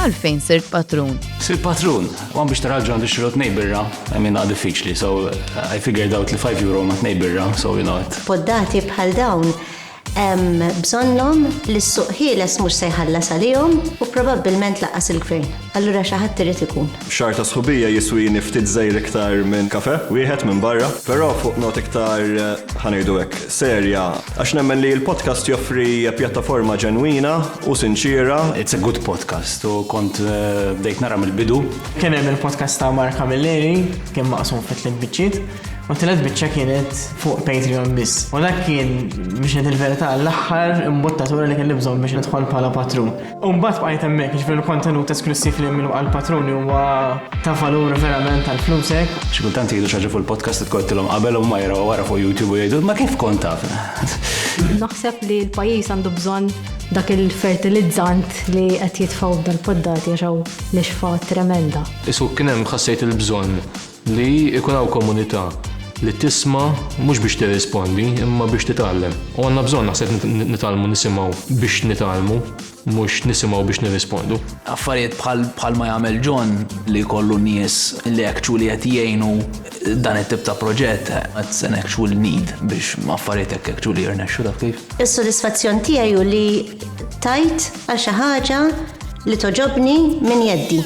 għalfejn sirt patrun. Sirt patrun, għan biex taraġu għandu xirot nejbirra, għamin għad diffiċli, so uh, I figured out li 5 euro ma t-nejbirra, so you know it. Poddati bħal dawn, bżonnom li s-suq ħieles mux sejħalla salijom u probabilment laqas il-gvern. Allura xaħat trid ikun. Xahar ta' sħubija jiswini ftit żgħir iktar minn kafè wieħed minn barra, però fuq nota iktar, ħa ngħidu hekk, serja, għax nemmen li l-podcast joffri pjattaforma ġenwina u sinċiera. It's a good podcast u kont bdejt nara mill-bidu. Kien hemm il-podcast ta' Mark Camilleri, kien maqsum fi tliet biċċiet, u t-tielet biċċa kienet fuq Patreon biss. U dak kien, biex ngħid il-verità, l-aħħar imbuttatura li kelli bżonn biex nidħol bħala patrun. U mbagħad bqajt hemmhekk, jiġifieri l-kontenut esklussiv li minnu għall-patruni huwa ta' valur verament għal flusek. Xi kultant jgħidu xi ħaġa fuq il-podcast tkottilhom qabel u ma jaraw wara fuq YouTube u jgħidu ma kif kont taf. Naħseb li l-pajjiż għandu bżonn dak il-fertilizzant li qed jitfgħu b'dal-poddati għax hawn l-ixfa tremenda. Isu kien hemm ħassejt il-bżonn Li jkun hawn komunità li tisma' mhux biex tirrispondi imma biex titgħallem. U għandna bżonn naħseb nitgħallmu nisimgħu biex nitgħallmu mhux nisimgħu biex nirrispondu. Affarijiet bħal ma jagħmel John li jkollu nies li actually qed jgħinu dan it-tip ta' proġett that's an actual need biex affarijiet hekk actually jirnexxu taf kif. Is-sodisfazzjon tiegħi hu li tajt għal xi ħaġa li togħġobni minn jeddi.